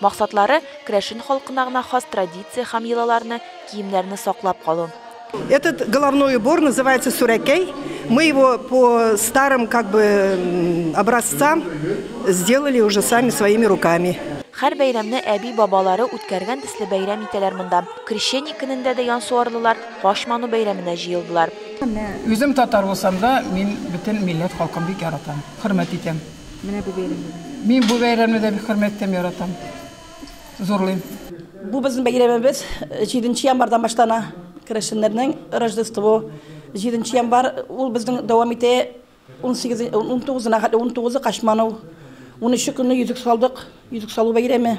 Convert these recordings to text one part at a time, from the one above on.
Максатлары, керәшен халкына гына хас традиция һәм йолаларны, киемнәрне саклап калу. Этот головной убор называется сурәкәй. Мы его по старым как бы образцам сделали уже сами своими руками. Хәр бәйрәмне әби бабалары үткәргән төсле бәйрәм итәләр монда. Крещение көнендә дә янсуарлылар Кач ману бәйрәменә җыелдылар. Үзем татар булсам да, мин бөтен милләт халкын бик яратам, хөрмәт итәм. Менә бу бәйрәмне дә. Мин бу бәйрәмне дә бик хөрмәт итәм, яратам. Зурлыйм. Бу безнең бәйрәмебез. Җиденче январьдан башлана. Керәшеннәрнең Рождество. Җиденче январь ул безнең дәвам итә. Унсигез, унтугызына хәтле. Унтугызы Качманов. Унөче көнне йөзек салдык. Йөзек салу бәйрәме.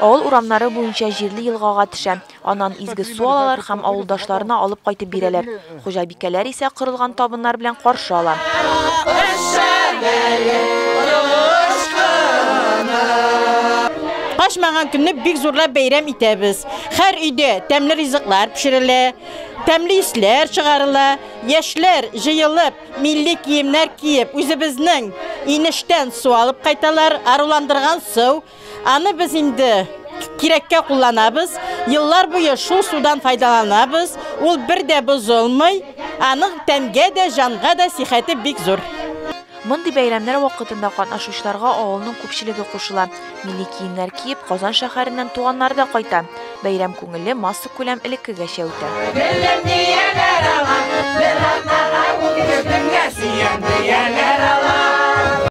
Авыл урамнары буенча җирле елгага төшә, аннан изге су алалар һәм авылдашларына алып кайтып бирәләр. Хуҗабикәләр исә корылган табыннар белән каршы ала. Качмаган көнне бик зурлап бәйрәм итәбез. Хәр өйдә тәмле ризыклар пешерелә, тәмле исләр чыгарыла, яшьләр җыелып, милли киемнәр киеп, үзебезнең инештән су алып кайталар, аруландырган су, Аны без инде кирәккә кулланабыз. Еллар буе шул судан файдаланабыз. Ул бер дә бозылмый. Аның тәнгә дә, җанга да сихәте бик зур. Мондый бәйрәмнәр вакытында катнашучыларга авылның күпчелеге кушыла. Милли киемнәр киеп, Казан шәһәреннән туганнары да кайта. Бәйрәм күңелле, массакүләм элеккегәчә үтә. Гөлем дияләр аңа, бер атнага ул гөлемгә сөйгән, дияләр аңа.